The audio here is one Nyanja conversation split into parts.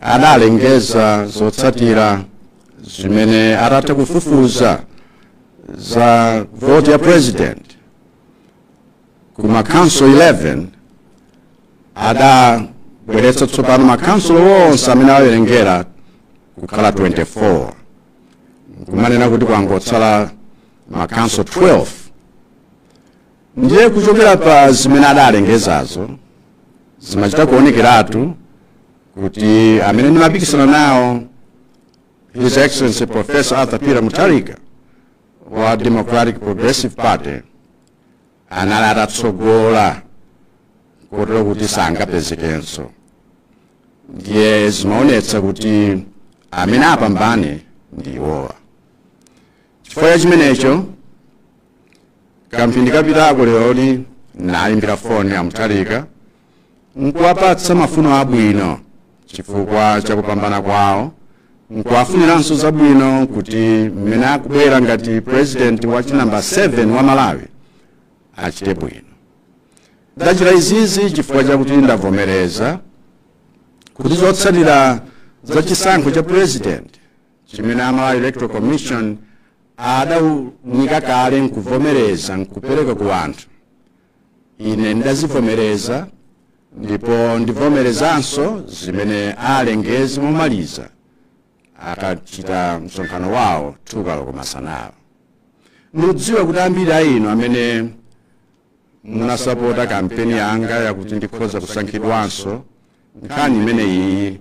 adalengeza zotsatira zimene atatha kufufuza za voti ya president ku ma council 11 adabweretsa tsopano ma council onse amene awerengera kukhala 24 kumanena kuti kwangotsala ma council 12 ndiye kuchokera pa zimene adalengezazo zimachita kuonekeratu kuti amene ndimapikisana nawo his excellency professor arthur peter mutharika wa democratic progressive party anali atatsogola kotero kuti sangapezekenso ndiye zimaonetsa kuti amene apambane ndi iwowa chifukwa cha chimenecho kamphindi kapitako leroli naimbira foni a mutharika nkuwapatsa mafuno abwino chifukwa cha kupambana kwawo nkuwafuniranso zabwino kuti mmene akubwera ngati president wachinambala 7 wa malawi achite bwino ndachita izizi chifukwa chakuti ndavomereza kuti zotsatira za chisankho cha president chimene a malawi electoral commission adaunika kale nkuvomereza nkupereka ku anthu ine ndidazivomereza ndipo ndivomerezanso zimene alengeze momaliza akachita msonkhano wawo 2 koloko masanawa ndikudziwa kuti ambiri a inu amene munasapota kampeni yanga yakuti ndikhoza kusankhidwanso nkhani imene iyi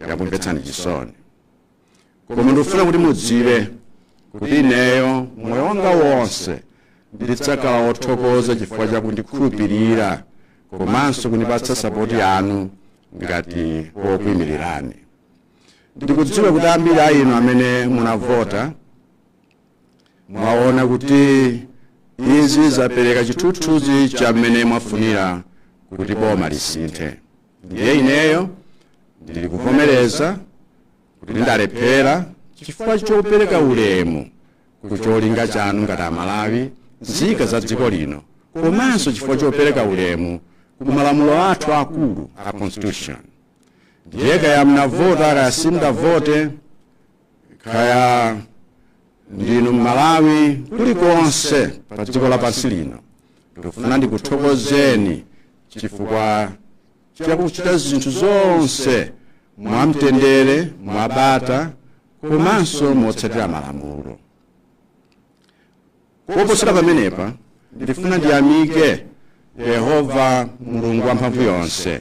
yakumvetsani chisoni koma ndikufuna kuti mudziwe kuti ineyo moyo wanga wonse ndidzakhala wothokoza chifukwa cha kundikhulupirira komanso kundipatsa sapoti yanu ngati wokuimirirani ndikudziwa kuti ambiri a inu amene munavota mwaona kuti izi zapereka chithunzithunzi cha mmene mwafunira kuti boma lisinthe ndiye ineyo ndili kuvomereza kuti ndalephera chifukwa chopereka ulemu ku cholinga chanu ngati amalawi nzika za dziko lino komanso chifukwa chopereka ulemu ku malamulo athu akulu a constitution ndiye kaya munavota kaya simudavote kaya ndinu mmalawi kulikonse pa dziko lapansi lino ndikufuna ndikuthokozeni chifukwa chakuchita zinthu zonse mwamtendere mwabata komanso motsatira malamulo koposera pamenepa ndifuna ndiyamike yehova mulungu wamphamvu yonse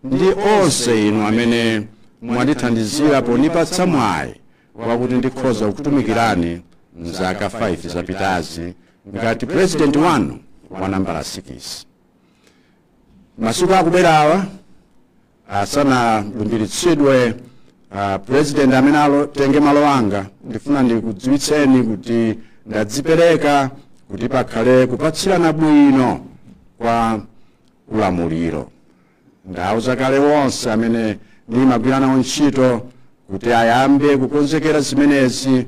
ndi onse inu amene mwandithandizira ponipatsa mwayi wakuti ndikhoza kukutumikirani mzaka 5 zapitazi ngati president wanu wa nambala 6 masiku akubwerawa asanalumbiritsidwe uh, president amene atenge malo anga ndifuna ndikudziwitseni kuti ndadzipereka kuti pakhale kupatsirana bwino kwa ulamuliro ndauza kale wonse amene ndimagwira nawo ntchito kuti ayambe kukonzekera zimenezi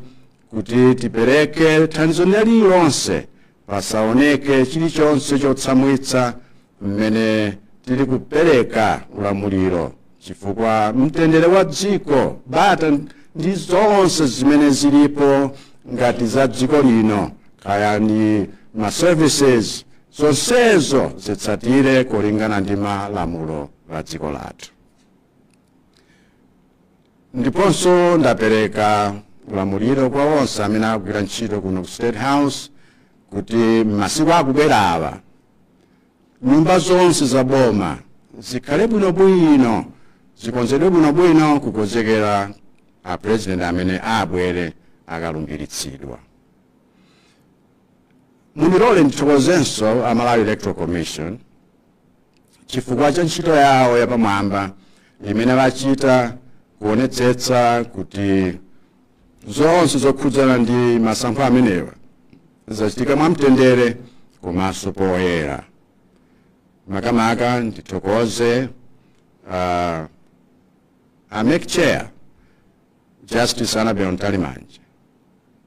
kuti tipereke thandizo lililonse pasaoneke chilichonse chotsamwitsa mmene tili kupereka ulamuliro chifukwa mtendere wa dziko bata ndi zonse zimene zilipo ngati za dziko lino kaya ndi ma services zonsezo zitsatire kolingana ndi malamulo a dziko lathu ndiponso ndapereka ulamuliro kwa onse amene akugwira ntchito kuno ku state house kuti m'masiku akubwerawa nyumba zonse za boma zikhale bwinobwino zikonzedwe bwinobwino kukonzekera a president amene abwere akalumbiritsidwa mundilole ndithokozenso a malawi electoral commission chifukwa cha ntchito yawo yapamwamba imene bachita kuonetsetsa kuti zonse zokhudzana ndi masankho amenewa zachitika mwamtendere komanso poyera makamaka ndithokoze uh, a MEC chair Justice Annabel Mtalimanja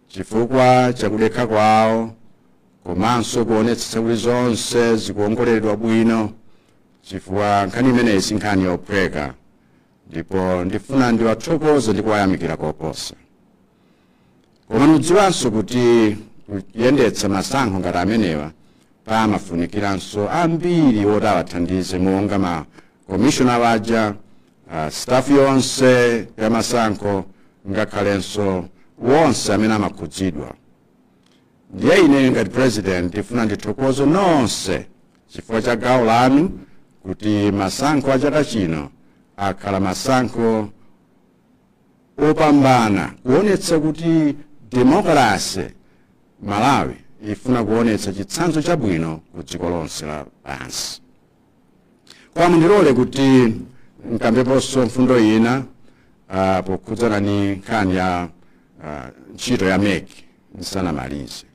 chifukwa chakudekha kwawo komanso kuonetsetsa kuti zonse zikuongoleredwa bwino chifukwa nkhani imeneyi si nkhani yophweka ndipo ndifuna ndiwathokoze ndi kuwayamikira koposa koma mudziwanso kuti kuyendetsa masankho ngati amenewa pamafunikiranso ambiri oti awathandize monga ma commissioner waja uh, staff yonse ya masankho ngakhalenso wonse amene amakhudzidwa ndiye ine ngati president ndifuna ndithokoze nonse chifukwa cha gawo lanu kuti masankho a chaka chino akhala masankho opambana kuonetsa kuti demokrasi malawi ifuna kuonetsa chitsanzo chabwino ku dziko lonse lapansi Koma mundilole kuti nkambeponso mfundo ina ah, pokhudzana ni nkhani ya ah, ntchito ya mec nsanamalize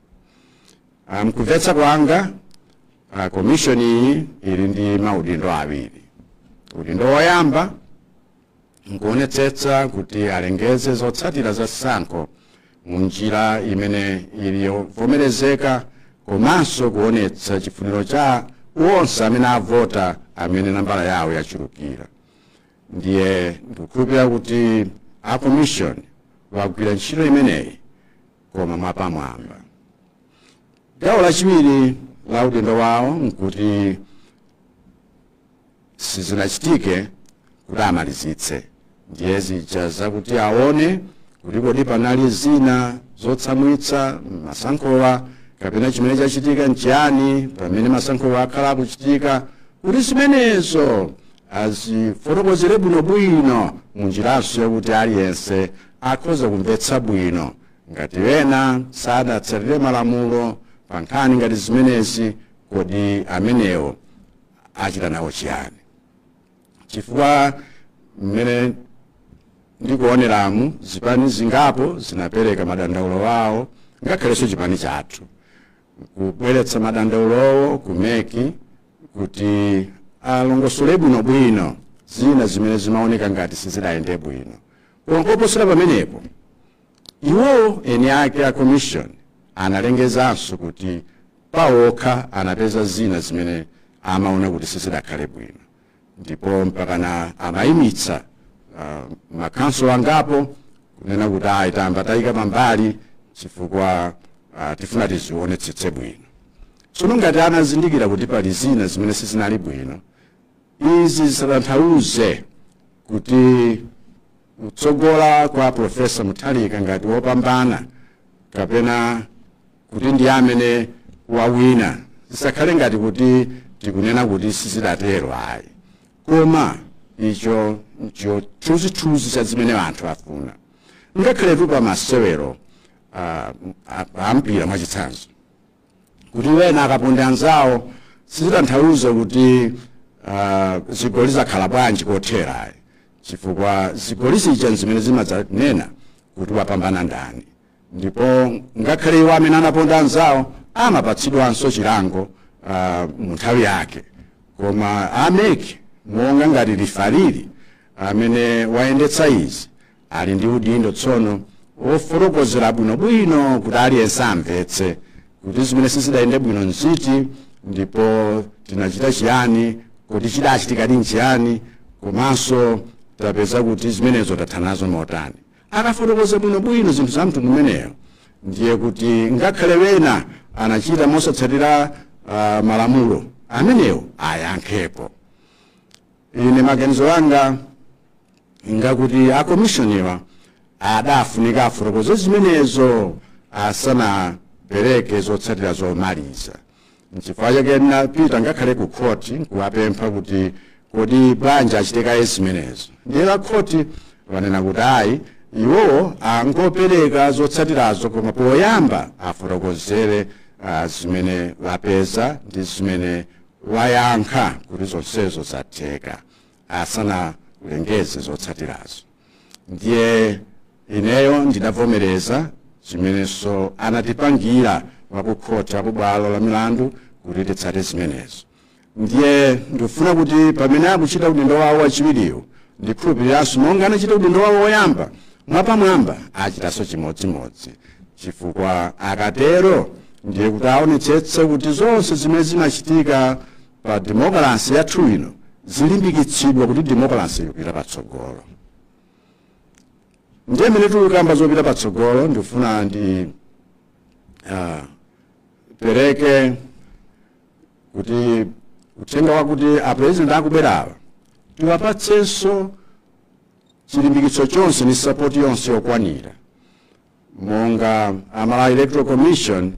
Ah, mkumvetsa kwanga ah, komishoni iyi ili ndi maudindo awiri udindo woyamba nkuonetsetsa kuti alengeze zotsatira za sankho mu njira imene ili yovomerezeka komanso kuonetsa chifuniro cha onse amene avota amene nambala yawo yachulukira ndiye ndikukhulupirira kuti a commission wagwira ntchito imeneyi koma mwapamwamba gawo lachiwiri la udindo wawo nkuti sizinachitike kuti amalizitse ndiye zija zakuti aone kuti kodi panali zina zotsamwitsa mmasankhowa kapena chimene chachitika nchiyani pamene masankhowa akhala akuchitika kuti zimenezo azifotokozere bwinobwino mu njiranso yakuti aliyense akhoza kumvetsa bwino ngati ena sadatsatire malamulo pa nkhani ngati zimenezi kodi amenewo achita nawo chiyani chifukwa mmene ndikuoneramu zipani zingapo zinapereka madandaulo awo ngakhalenso chipani chathu kubweretsa madandaulowo ku mec kuti alongosole bwinobwino zina zimene zimaoneka ngati sizidayende bwino koma koposera pamenepo Iwo eni ake a Commission analengezanso kuti pawokha anapeza zina zimene amaona kuti sizidakhale bwino ndipo mpakana amayimitsa uh, makhonsolo angapo kunena kuti ayi tayamba tayika pambali chifukwa uh, tifuna tizionetsetse bwino tsono ngati anazindikira kuti pali zina zimene sizinali bwino Izi zisatanthauze kuti kutsogola kwa Professor Mutharika ngati wopambana kapena kuti ndi amene wawina zisakhale ngati kuti tikunena kuti sizidatero ayi koma icho ncho chithunzithunzi cha zimene anthu afuna ngakhaletu pa masewero ah, a- a mpira mwachitsanzo kuti wena akaponda anzawo sizitanthauza kuti ah, zigoli zakhala bwanji kothera ayi chifukwa zigoli zija nzimene zimadzanena kuti wapambana ndani ndipo ngakhale iwo amene anaponda anzawo amapatsidwanso chilango ah, mu nthawi yake koma a mec monga ngati lifalili amene wayendetsa izi ali ndi udindo tsono wofotokozera bwinobwino kuti aliyense amvetse kuti zimene sizidayende bwino nziti ndipo tinachita chiyani kodi chidachitikadi nchiyani komanso tapeza kuti zimenezo tathana nazo motani akafotokoza bwinobwino zinthu za mtundu umenewo ndiye kuti ngakhale wena anachita mosatsatira ah, malamulo amenewo ayankhepo ine maganizo anga ngakuti akomishoniwa adafunika afotokoze zimenezo asanapereke zotsatira zomaliza nchifukwa chake napita ngakhale ku khoti nkuwapempha kuti kodi bwanji achite kaye zimenezo ndiye a khoti anena kuti ayi iwowo angapereke zotsatirazo koma poyamba afotokozere ah, zimene apeza ndi zimene ayankha kuti zonsezo zatheka asanaulengeze zotsatirazo ndiye ineyo ndidavomereza zimenezo anatipangira akukhoti akubwalo la milandu kuti titsate zimenezo ndiye ndikufuna kuti pamene akuchita udindo wawo wachiwiriwo ndikhulupiriranso monga anachita udindo wawo woyamba mwapamwamba achitanso chimodzimodzi chifukwa akatero ndiye kuti aonetsetse kuti zonse zimene zimachitika pa demokalasi yathu ino zilimbikitsidwa kuti demokalasi ikupita patsogolo ndiye mmene tikukamba zopita patsogolo ndifuna ndi ah, pereke kuti uthenga wakuti apurezidenti akubwerawa tiwapatsenso chilimbikitso chonse ndi sapoti yonse yokwanira monga a malawi electoral commission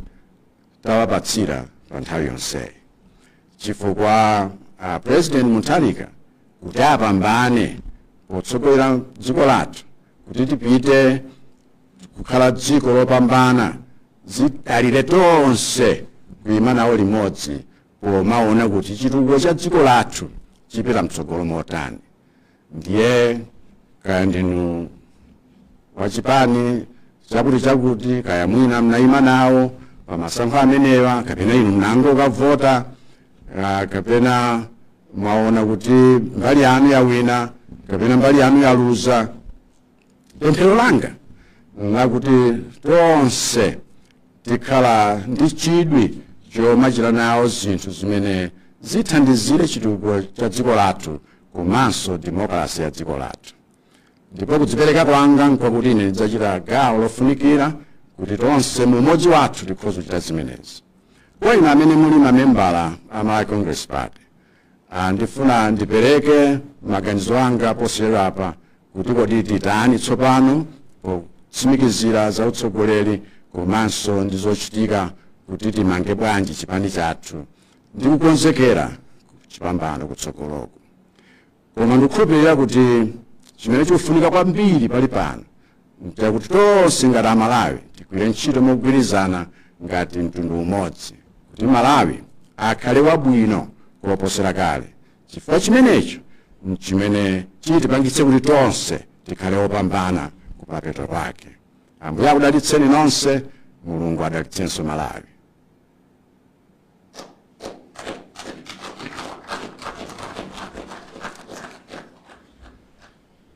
tawapatsira pa nthawi yonseyi chifukwa a president mutharika kuti apambane potsogolera dziko lathu kuti tipite kukhala dziko lopambana zidalire tonse kuima nawo limodzi pomaona kuti chitukuko cha dziko lathu chipita mtsogolo motani ndiye kaya ndinu wa chipani chakuti chakuti kaya mwina mnayima nawo pa masankho amenewa kapena inu mnangokavota ah, kapena mwaona kuti mbali yanu yawina kapena mbali yanu yaluza pemphero langa nlakuti tonse tikhala ndi chidwi chomachita nawo zinthu zimene zithandizire chitukuko cha dziko lathu komanso demokalasi ya dziko lathu ndipo kudzipereka kwanga nkwakuti ine ndidzachita gawo lofunikira kuti tonse mu umodzi wathu tikhoza kuchita zimenezi kwa inu amene muli mamembala a malawi congress party Ah, ndifuna ndipereke maganizo anga posachedwapa kuti kodi titani tsopano potsimikizira za utsogoleri komanso ndi zochitika kuti timange bwanji chipani chathu ndi kukonzekera chipambano kutsogoloko koma ndikukhulupirira kuti chimene chikufunika kwambiri pali pano nchakuti tonse ngati amalawi tigwire ntchito mogwirizana ngati mtundu umodzi kuti malawi akhale wabwino kuposera kale chifukwa chimenecho nchimene chitipangitse kuti tonse tikhale opambana kumapeto kwake ambuye akudalitseni nonse mulungu adalitsenso malawi